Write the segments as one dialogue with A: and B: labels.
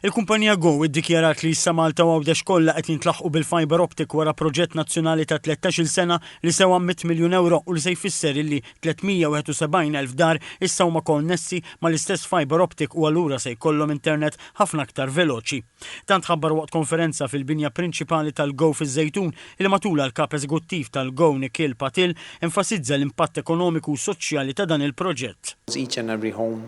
A: Il-kumpanija Go iddikjarat li issa Malta u Għawdex kollha qed jintlaħqu bil-fibre optic wara proġett nazzjonali ta' tlettax-il sena li sewa mitt miljun ewro u li se jfisser illi 371 elf dar issa huma koonnessi mal-istess fibre optic u allura se jkollhom internet ħafna aktar veloċi. Dan tħabbar waqt konferenza fil-binja prinċipali tal-Go fiż-Żejtun li matulha l-Kap Eżeguttiv tal-Go Nikhil Patil enfasizza l-impatt ekonomiku u soċjali ta' dan il-proġett. Each and every home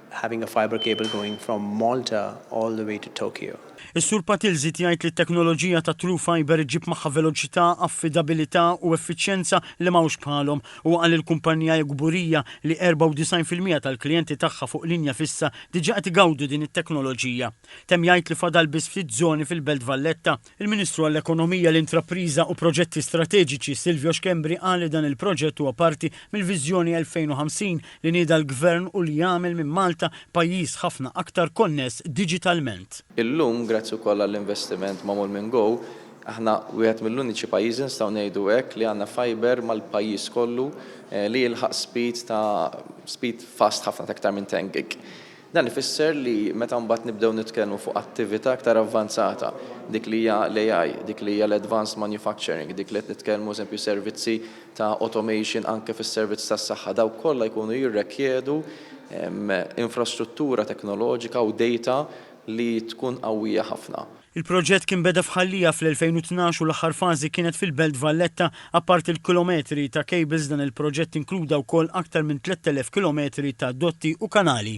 B: having a fibre cable going from Malta all the way to Tokyo. Is-Sur Patil
A: żied jgħid li t-teknoloġija ta' True Fibre ġġib magħha veloċità, affidabilità u effiċjenza li m'hawnx bħalhom. Huwa qal li l-kumpanija hi kburija li 94 fil-mija tal-klijenti tagħha fuq linja fissa diġà qed igawdu din it-teknoloġija. Temm jgħid li fadal biss ftit żoni fil-Belt Valletta. Il-Ministru għall-Ekonomija, l-Intrapriża u Proġetti Strateġiċi Silvio Schembri qal li dan il-proġett huwa parti mill-Viżjoni 2050 li nieda l-Gvern u li jagħmel minn Malta pajjiż ħafna aktar konness diġitalment. Illum, grazzi
C: wkoll għall-investiment magħmul minn Go, aħna wieħed mill-uniċi pajjiżi, nistgħu ngħidu hekk, li għandna fibre mal-pajjiż kollu li jilħaq speed ta' speed fast ħafna ta' iktar minn 10 gig. Dan ifisser li meta mbagħad nibdew nitkellmu fuq attività iktar avvanzata, dik li hija l-AI, dik li hija l-advanced manufacturing, dik li qed nitkellmu eżempju servizzi ta' automation anke fis-servizz tas-saħħa, dawk kollha jkunu jirrekjedu infrastruttura teknoloġika u data li tkun qawwija ħafna. Il-proġett kien beda
A: f'Ħal Liegħa fl-2012 u l-aħħar fażi kienet fil-Belt Valletta. Apparti l-kilometri ta' kejbils dan il-proġett inkluda wkoll aktar minn 3,000 kilometri ta' dotti u kanali.